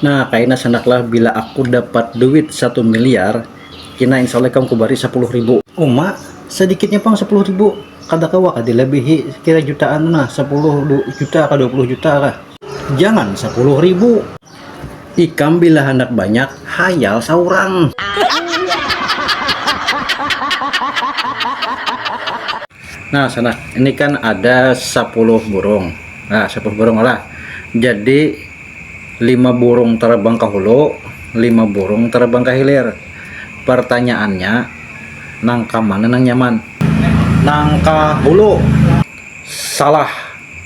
Nah kaina sanak lah bila aku dapat duit satu miliar kina insya Allah ikam kubari sapuluh ribu. Uma, sadikitnya pang sapuluh ribu, kada kawa kah dilabihi sekira jutaan tu nah, sapuluh juta kah dua puluh juta kah. Jangan sapuluh ribu. Ikam bila handak banyak hayal saurang. Nah sanak, ini kan ada sapuluh burung, nah sapuluh burung lah jadi. Lima burung tarabang ka hulu, lima burung tarabang ka hilir. Partanyaannya, nang ka mana nang nyaman? Nang ka hulu. Salah.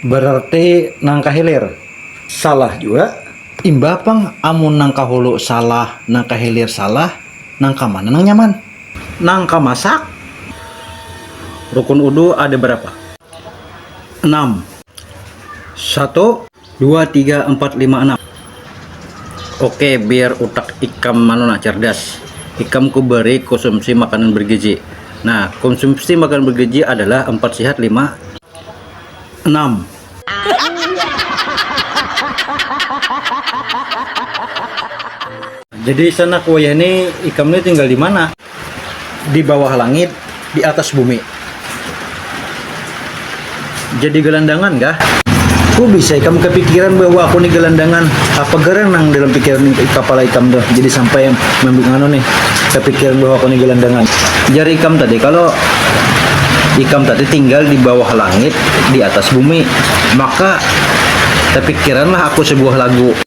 Berarti nang ka hilir. Salah jua. Imbah pang amun nang ka hulu salah, nang ka hilir salah, nang ka mana nang nyaman? Nang ka masak. Rukun udu ada barapa? Enam. Satu. dua tiga empat lima enam oke biar utak ikam manu nah cerdas ikam ku beri konsumsi makanan bergizi nah konsumsi makanan bergizi adalah empat sehat lima enam jadi sanak wayah ni ikam ni tinggal dimana. di bawah langit di atas bumi jadi gelandangan kah ku bisa ikam kepikiran bahwa aku ni gelandangan apa gerang nang dalam pikiran kapala ikam tuh jadi sampai nganu nih kepikiran bahwa aku ni gelandangan jar ikam tadi kalau ikam tadi tinggal di bawah langit di atas bumi maka tepikiranlah aku sebuah lagu.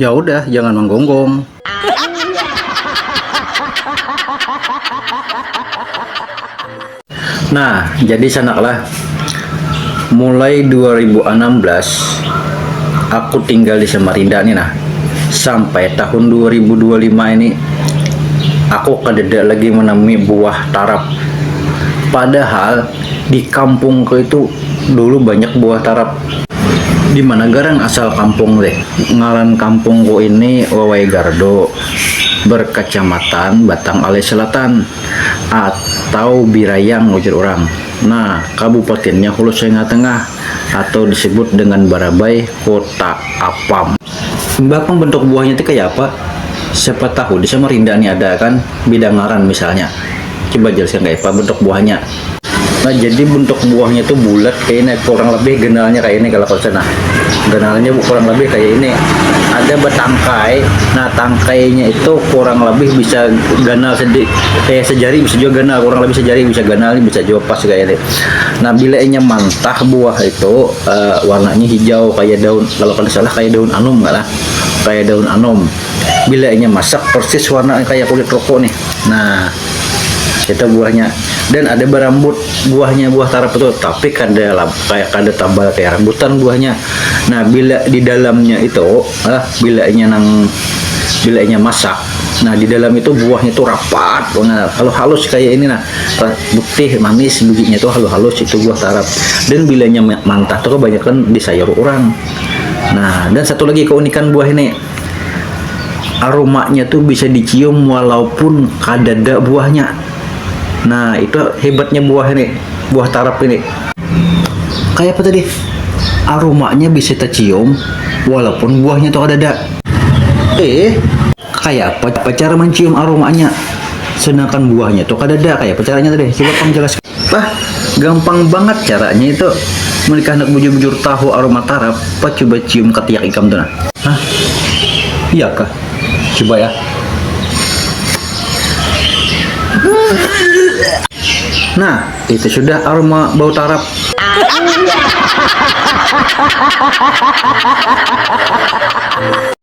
Ya udah, jangan manggonggong. Nah, jadi sanaklah, mulai dua ribu anam belas aku tinggal di Samarinda nih nah, sampai tahun dua ribu dua lima ini aku kadada lagi manamui buah tarap. Padahal di kampungku itu dulu banyak buah tarap, Dimana garang asal kampung ti? Ngaran kampung ku ini Wawai Gardu berkacamatan Batang Alai Selatan atau Birayang ujar urang. Nah, kabupatinnya Hulu Sengah Tengah atau disebut dengan Barabai, Kuta Apam. Imbah pang bentuk buahnya ti kaya apa? Siapa tahu di Samarinda ni ada kan bida ngaran misalnya. Coba jelaskan kaya apa bentuk buahnya. Nah, jadi bentuk buahnya tuh bulat kayak ini, kurang lebih genalnya kayak ini kalau konsep. Nah, genalnya kurang lebih kayak ini. Ada bertangkai. Nah, tangkainya itu kurang lebih bisa ganal sedikit kayak sejari bisa juga ganal, kurang lebih sejari bisa ganal ini bisa juga pas kayak ini. Nah, bila inya mantah buah itu uh, warnanya hijau kayak daun kalau kada salah kayak daun anum kan kayak daun anum. Bila inya masak persis warna kayak kulit rokok nih. Nah, kita buahnya dan ada berambut buahnya buah tarap itu tapi kada kayak kada tabal kayak rambutan buahnya nah bila di dalamnya itu ah bila nya nang bila nya masak nah di dalam itu buahnya itu rapat bangat halus halus kayak ini nah putih manis bijinya itu halus halus itu buah tarap dan bila nya mantah tu kebanyakan di sayur orang nah dan satu lagi keunikan buah ini. aromanya tuh bisa dicium walaupun kadada buahnya. Nah, itu hebatnya buah ini, buah tarap ini. Kayak apa tadi? Aromanya bisa tercium walaupun buahnya tuh kadada. Eh, kayak apa cara mencium aromanya? Sedangkan buahnya tuh kadada. Kayak apa caranya tadi? Coba kamu jelaskan. Pah, gampang bangat caranya itu. Muli kah handak bujur-bujur tahu aroma tarap, pah cuba cium katiak ikam tu nah. Hah? Iya kah? Cuba ya. Nah, itu sudah aroma bau tarap.